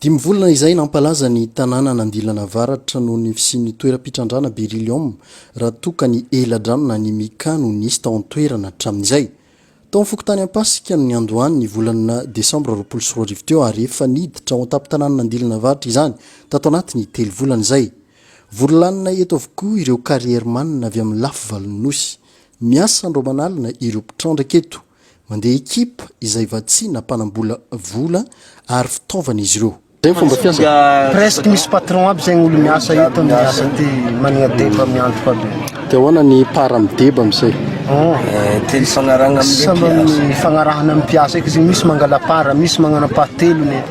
Dimy volana izay nampalaza ny tanàna an'andilana avaratra noho ny fisian'ny toeram-pitrandrana beryllium raha toa ka ny ela-drano na ny mica no nisy tao an-toerana hatramin'izay. Tao amin'ny fokontany Ampasika no niandohany ny volana desambra roapolo sy roa arivo teo ary efa niditra ao an-tampon-tanànan'Andilana Avaratra izany tato anatin'ny telo volana izay. Vory lanina eto avokoa ireo carrièrman avy amin'ny lafy valon'ny Nosy. Miasa andro aman'alina ireo mpitrandraka eto. Mandeha ekipa izay vatsiana mpanambola vola ary fitaovana izy ireo. Presque misy patron aby zegny olo miasa eto am miasa ty managna deba miandry fa be. De ahoana ny part am deba am zay? Telo ifagnarahagna am le mpiasa. Samy am ifagnarahagna am mpiasa eky zegny misy mangala part misy magnana part telony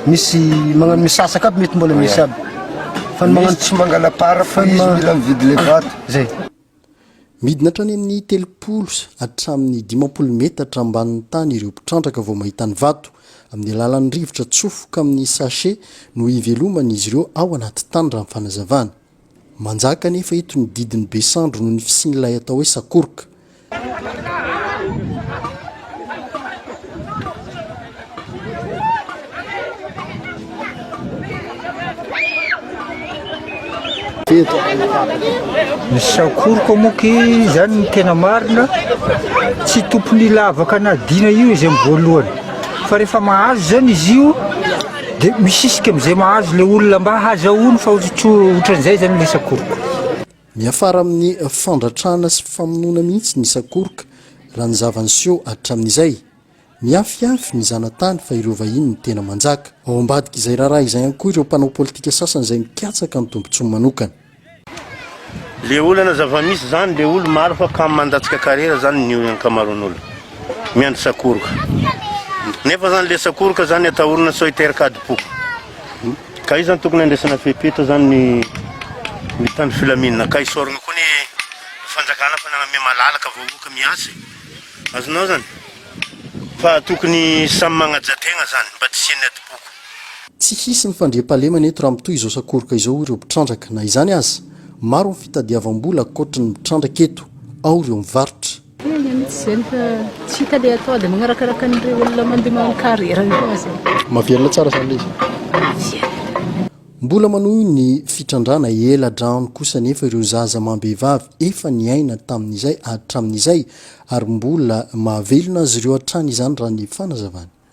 misy magnano misasaka aby mety mbola misy aby fa ny magnano tsy mangala part fa izy mila mividy le vato. Zay. Midina hatrany amin'ny telopolo hatramin'ny dimampolo metatra ambanin'ny tany ireo mpitrandraka vao mahita ny vato. Amin'ny alalan'ny rivotra atsofoka amin'ny sachet no iveloman'izy ireo ao anaty tany, raha ny fanazavana. Manjaka anefa eto ny didin'ny be sandry noho ny fisian'ilay atao hoe sakoroka. ny sakoriko moky izany ny tena marina tsy tompony lavaka na dina io izy amin'ny voalohany fa rehefa mahazo zany izy io dia misisika amin'izay mahazo le olona mba hazahoany fa ohatran'izay zany le sakoriko Miafara amin'ny fandratrana sy famonoana mihitsy ny sakoroka, raha ny zava-niseho hatramin'izay. Mihafihafy ny zanatany fa ireo vahiny no tena manjaka. Ao ambadik'izay raharaha izay ihany koa ireo mpanao politika sasany izay mikatsaka ny tombotsoany manokana. Le olana zava-misy zany le olo maro fa kamo mandatsika karera zany ny ankamaron'olo miandry sakoroka nefa zany le sakoroka zany atahorina sao hiteraka adim-po. Kay zany tokony andraisana fepetra zany ny ny tany filaminana kay sorogna koa ny fanjakana fa nagname malalaka vahoaka miasa e azonao zany fa tokony samy magnaja tegna zany mba tsy hisian'ny adim-poko. Tsy hisy ny fandriampahalemana eto raha mitohy izao sakoroka izao hoy ireo mpitrandraka. Na izany aza, maro ny fitadiavam-bola ankoatry ny mitrandraka eto, ao ireo mivarotra. He aia mitsy zany fa tsy hita le atao de magnarakaraka an'ireo olona mandeha manao carrière io foagna zay. Mahavelona tsara zany le izy e. Mbola manohy ny fitrandrana ela drano kosa anefa ireo zaza amam-behivavy efa niaina tamin'izay hatramin'izay ary mbola mahavelona azy ireo hatrany izany raha ny fanazavany.